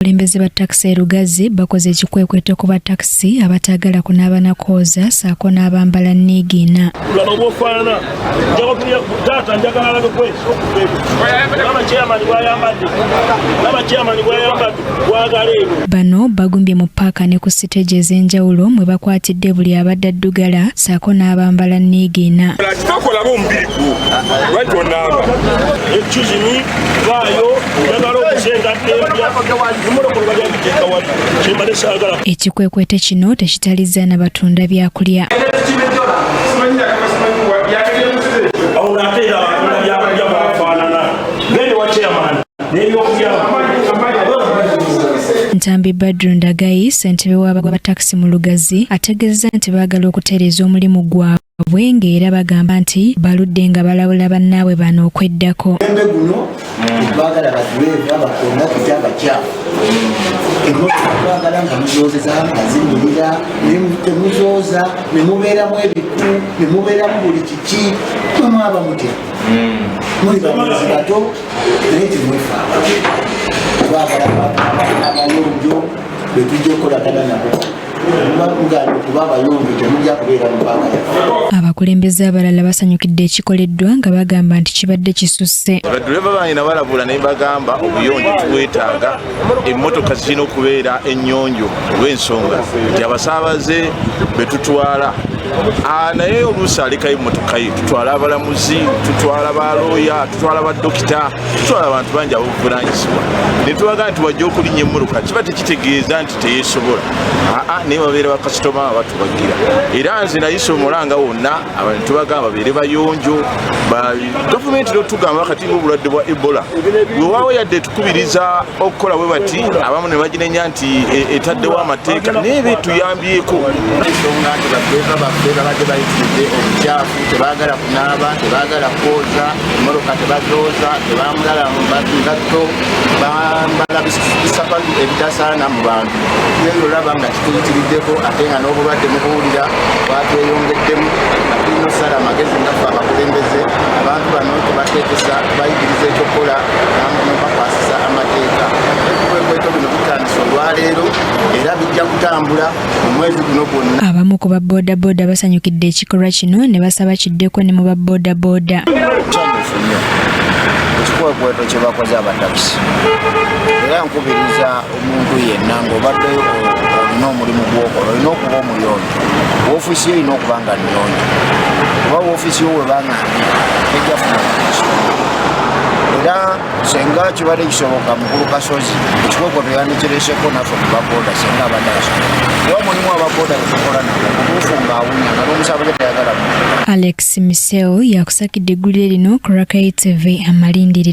Abakulembeze ba takisi e Lugazi bakoze ekikwekweto ku ba takisi abataagala kunaaba na kooza saako n'abambala niigiina. Laba bw'ofaanana taata njagala alabe kweso laba chairman bw'ayambadde laba chairman bw'ayambadde bwagala eno. Bano bagumbye mu paaka ne ku siteegi ez'enjawulo mwe bakwatidde buli abadde addugala saako n'abambala niigiina. Kati tokolaba omubiri gwo lwaki onaaba ekizumu ekikwekweto kino tekitalizza na batunda byakulya Ntambi Badru Ndagayi ssentebe w'abagwa ba takisi mu Lugazi ategeezezza nti baagala okutereeza omulimu gwabwe Bwenge era bagamba nti baludde nga balabula bannaabwe bano okweddako. Embe guno bagala baduleeva bakona kuta abakyafu emmotoka twagala nga muzoozeza nga zinyirira temuzooza ne mubeeramu ebiku ne mubeeramu buli kiki mwe mwaba mutya hmm. muli bamuzi bato naye temwefa twagala abayonjo betujja okukolagana nabo abakulembeze abalala basanyukidde ekikoleddwa nga bagamba nti kibadde kisusse baduleva bange nabalabula naye bagamba obuyonjo tubwetaaga emmotoka zirina okubeera ennyonjo olw'ensonga nti abasaabaze betutwala ah, naye oluusi alekayo emmotoka ye tutwala abalamuzi tutwala balooya tutwala badokita tutwala abantu bangi abobuvunanyizibwa netubagamba nti wajja okulinya emmotoka kiba tekitegeeza nti teyesobola aa naye babeera bakasitoma abatubagira era nze nayisa omulanga wonna abantu tubagamba babeere bayonjo gavumenti lotugamba kati ngaobulwadde bwa ebola wewaawo yadde tukubiriza okukola bwe bati abamu ne baginenya nti e, etaddewo amateeka naye be tuyambyeko ensonga nti bakweva baffe babadde bayitiridde obukyafu tebagala kunaaba tebagala kwoza emmotoka tebazooza tebamulala mu ngatto bambala bisapa ebitasaana mu bantu naye olaba nga kituyitiriddeko ate nga n'obulwadde mubuwulira bwatweyongeddemu nga tulina osala amagezi ngaffe abakulembeze abantu bano tebateekesa bayigiriza ekyokukola bakwasisa amateeka ebikwekweto bino bitandisa olwaleero era bijja kutambula Abamu ku baboodabooda basanyukidde ekikolwa kino ne basaba kiddeko ne mu baboodabooda. Ekikwekweto kye bakoze abatakisi era nkubiriza omuntu yenna ng'obadde olina omulimu gw'okola olina okuba omuyonjo woofiisi yo olina okuba nga nnyonjo kuba woofiisi yo webanga ndi tejjafuna era senga kibadde kisoboka mukulu kasozi ekikoko teyandikiresheko naffe kubaboda senga abadde asobola kuba mulimu ababoda betukola nabo mubuufu ngaawunya nga n'omusaaba gye tayagala mu alex miseo yakusakidde eggulire lino ku rakai tv amalindiri